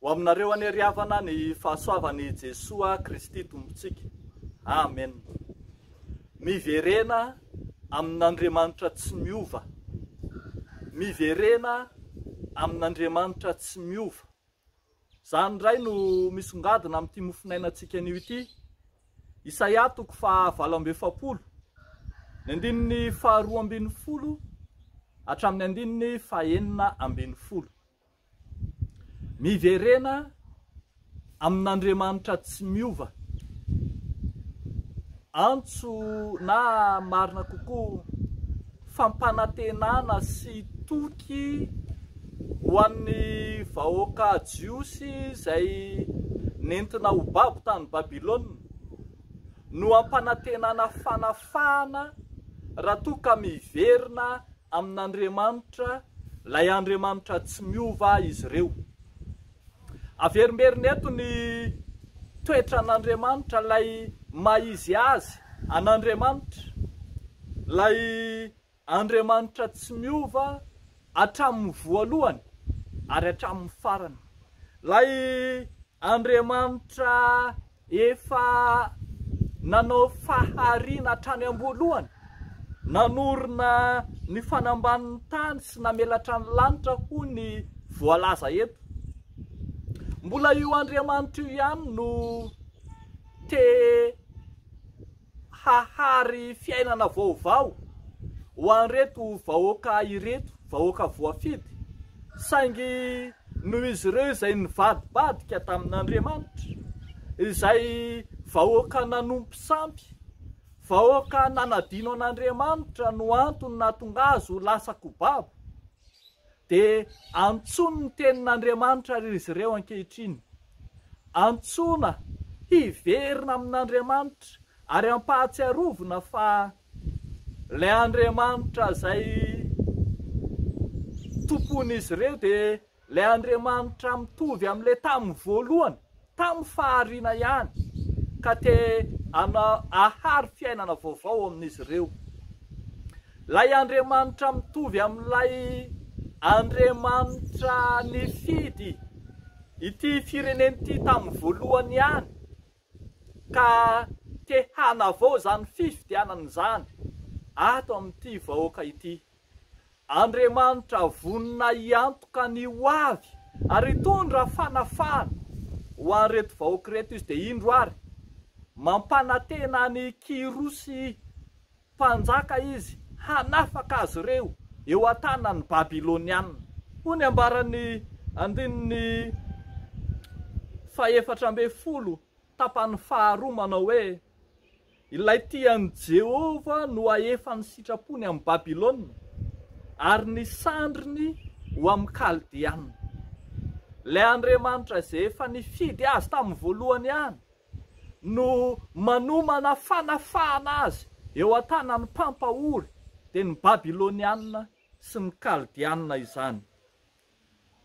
Ho aminareo anie ry havana ny fahasoavan'i Jesoa Kristy Tompontsika. Amen. Miverena amin'Andriamanitra tsy miova. Miverena amin'Andriamanitra tsy miova. Izany indray no misongadina amin'ity mofonainantsika anio ity. Isaia toko faha valo amby efapolo, ny andininy faha roa ambin'ny folo hatramin'ny andininy faha enina ambin'ny folo. Miverena amin'Andriamanitra tsy miova. Antso na marina kokoa, fampanantenana sy toky ho an'ny vahoaka jiosy izay nentina ho babo tany Babylona, no ampanantenana fanafahana raha toa ka miverina amin'Andriamanitra, ilay Andriamanitra tsy miova izy ireo. Averimberina eto ny toetran'Andriamanitra, ilay maha-izy azy an'Andriamanitra, ilay Andriamanitra tsy miova hatramin'ny voalohany ary hatramin'ny farany, ilay Andriamanitra Efa nanao fahariana hatrany am-boalohany, nanorina ny fanambanin'ny tany sy namelatra ny lanitra hoy ny voalaza eto. Mbola io Andriamanitra io ihany no te hahary fiainana vaovao ho an'ireto vahoaka ireto, vahoaka voafidy, saingy noho izy ireo izay nivadibadika tamin'Andriamanitra, izay vahoaka nanompo sampy, vahoaka nanadino an'Andriamanitra no antony nahatonga azy ho lasa kobabo. Dia antsoiny ny tenin'Andriamanitra àry izy ireo ankehitriny. Antsoina hiverina amin'Andriamanitra ary ampahatsiarovina fa ilay Andriamanitra izay Tompon'izy ireo dia ilay Andriamanitra mitovy amin'ilay tamin'ny voalohany, tamin'ny fahariana ihany ka te ahary fiainana vaovao amin'izy ireo. Ilay Andriamanitra mitovy amin'ilay Andriamanitra nifidy ity firenena ity tamin'ny voalohany ihany ka te hanavao izany fifidianana izany ato amin'ity vahoaka ity. Andriamanitra vonona hiantoka ny ho avy ary hitondra fanafahana ho an'ireto vahoaka ireto Izy, dia indro ary, mampanantena an'i Kyrosy mpanjaka Izy hanafaka azy ireo eo an-tanan'ny Babylonianina. Hoy ny ambaran'ny andininy fahefatra ambin'ny folo, tapany faharoa, manao hoe. Ilay tia an'i Jehovah no hahefa ny sitrapony amin'i Babylona, ary ny sandriny ho amin'ny Kaldeanina. Ilay Andriamanitra izay efa nifidy azy tamin'ny voalohany ihany no manomana fanafahana azy eo an-tanan'ny mpampahory, dia ny Babylonianina sy ny Kaldeanina izany.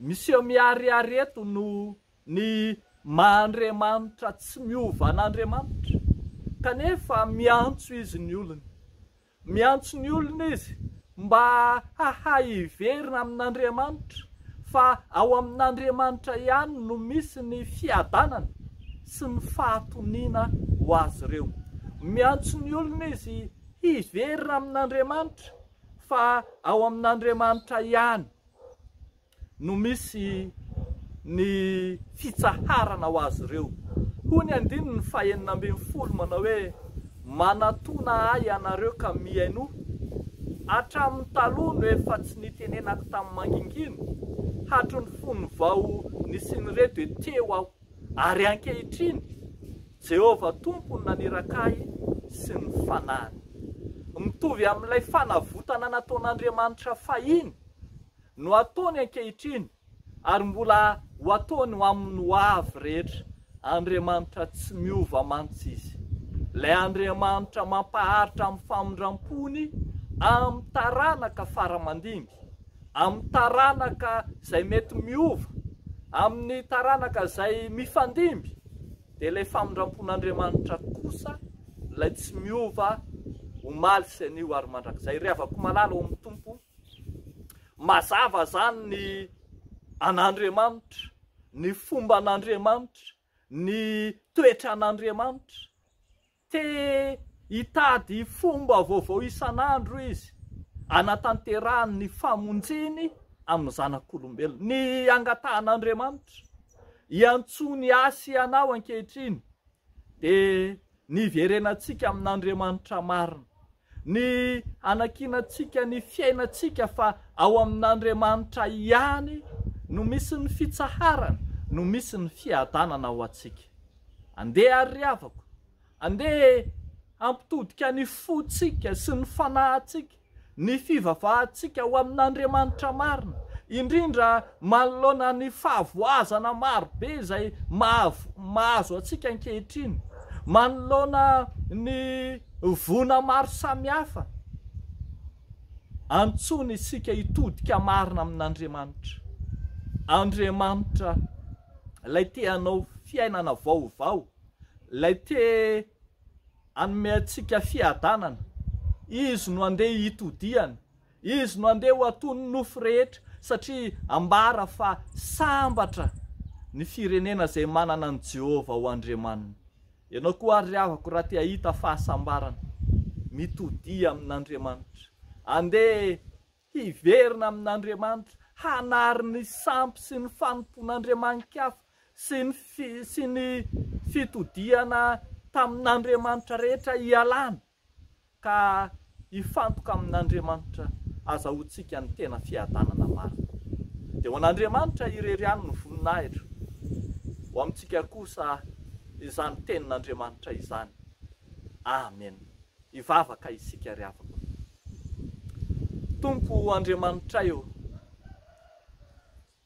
Miseho miharihary eto no ny maha Andriamanitra tsy miova an'Andriamanitra, kanefa miantso Izy ny olony. Miantso ny olony Izy mba hahay hiverina amin'Andriamanitra, fa ao amin'Andriamanitra ihany no misy ny fiadanana sy ny fahatoniana ho azy ireo. Miantso ny olony Izy hiverina amin'Andriamanitra Fa ao amin'Andriamanitra ihany no misy ny fitsaharana ho azy ireo. Hoy ny andininy fahenina ambin'ny folo manao hoe, Manatona ahy ianareo ka mihainoa, hatramin'ny taloha no efa tsy nitenenako tamin'ny mangingina, hatry ny fony vao nisian'ireto dia teo aho. Ary ankehitriny, Jehovah Tompo no naniraka ahy sy ny fanahiny. Mitovy amin'ilay fanavotana nataon'Andriamanitra fahiny no ataony ankehitriny, ary mbola ho ataony ho amin'ny hoavy rehetra. Andriamanitra tsy miova mantsy izy, ilay Andriamanitra mampaharitra amin'ny famindram-pony amin'ny taranaka fara-mandimby, amin'ny taranaka izay mety miova, amin'ny taranaka izay mifandimby, dia ilay famindrampon'Andriamanitra kosa, ilay tsy miova, omaly sy anio ary mandrakizay. Ry havako malala ao amin'ny Tompo, mazava izany ny an'Andriamanitra, ny fomban'Andriamanitra, ny toetran'Andriamanitra, Te hitady fomba vaovao isan'andro izy hanatanterahany ny famonjeny amin'ny zanak'olombelona. Ny angatahan'Andriamanitra hiantsoany hiasa ianao ankehitriny dia ny hiverenantsika amin'Andriamanitra marina. Ny hanakianantsika ny fiainantsika fa ao amin'Andriamanitra ihany no misy ny fitsaharana, no misy ny fiadanana ho antsika. Andeha àry ry havako, andeha hampitodika ny fontsika sy ny fanahintsika, ny fivavahantsika ho amin'Andriamanitra marina, indrindra manoloana ny fahavoazana maro be izay mahazo antsika ankehitriny, manoloana ny. Vona maro samihafa antsoina isika hitodika marina amin'Andriamanitra. Andriamanitra Ilay te hanao fiainana vaovao, Ilay te hanome antsika fiadanana. Izy no andeha hitodihana. Izy no handeha ho aton'ny nofo rehetra, satria ambara fa sambatra ny firenena izay manana an'i Jehovah ho Andriamaniny. Ianao koa àry ry havako, raha te hahita fahasambarana, mitodia amin'Andriamanitra. Andeha hiverina amin'Andriamanitra, hanary ny sampy sy ny fanompoan'andriamani-kafa sy ny sy ny fitodihana tamin'andriamanitra rehetra ialana. ka hifantoka amin'Andriamanitra azahoantsika ny tena fiadanana marina. Dia ho an'Andriamanitra irery ihany ny voninahitra, ho amintsika kosa izany tenin'Andriamanitra izany. Amena. Hivavaka isika ry havako. Tompo Andriamanitray ô,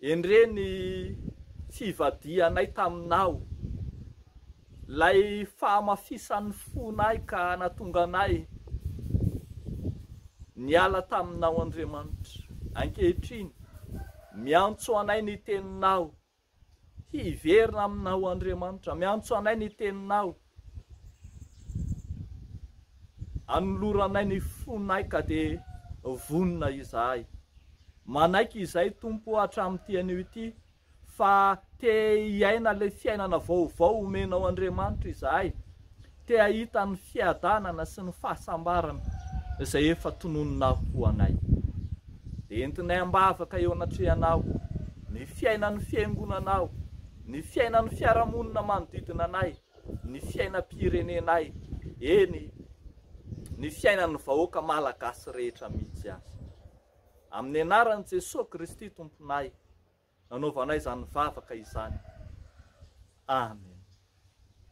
Endrey ny fivadihanay taminao, lay fahamafisan'ny fonay ka natonga anay niala taminao Andriamanitra. Ankehitriny, miantso anay ny Teninao, hiverina aminao Andriamanitra, miantso anay ny Teninao. Anoloranay ny fonay ka dia vonona izahay. Manaiky izay Tompo o hatramin'ity anio ity fa te hiaina ilay fiainana vaovao omenao Andriamanitra izahay, te hahita ny fiadanana sy ny fahasambarana izay efa tononinao ho anay. Dia entinay am-bavaka eo anatrehanao ny fiainan'ny Fiangonanao ny fiainan'ny fiarahamonina manodidina anay, ny fiainam-pirenenay, eny, ny fiainan'ny vahoaka malagasy rehetra mihitsy aza. Amin'ny anaran'i Jesoa Kristy Tomponay, nanaovanay izany vavaka izany. Amen.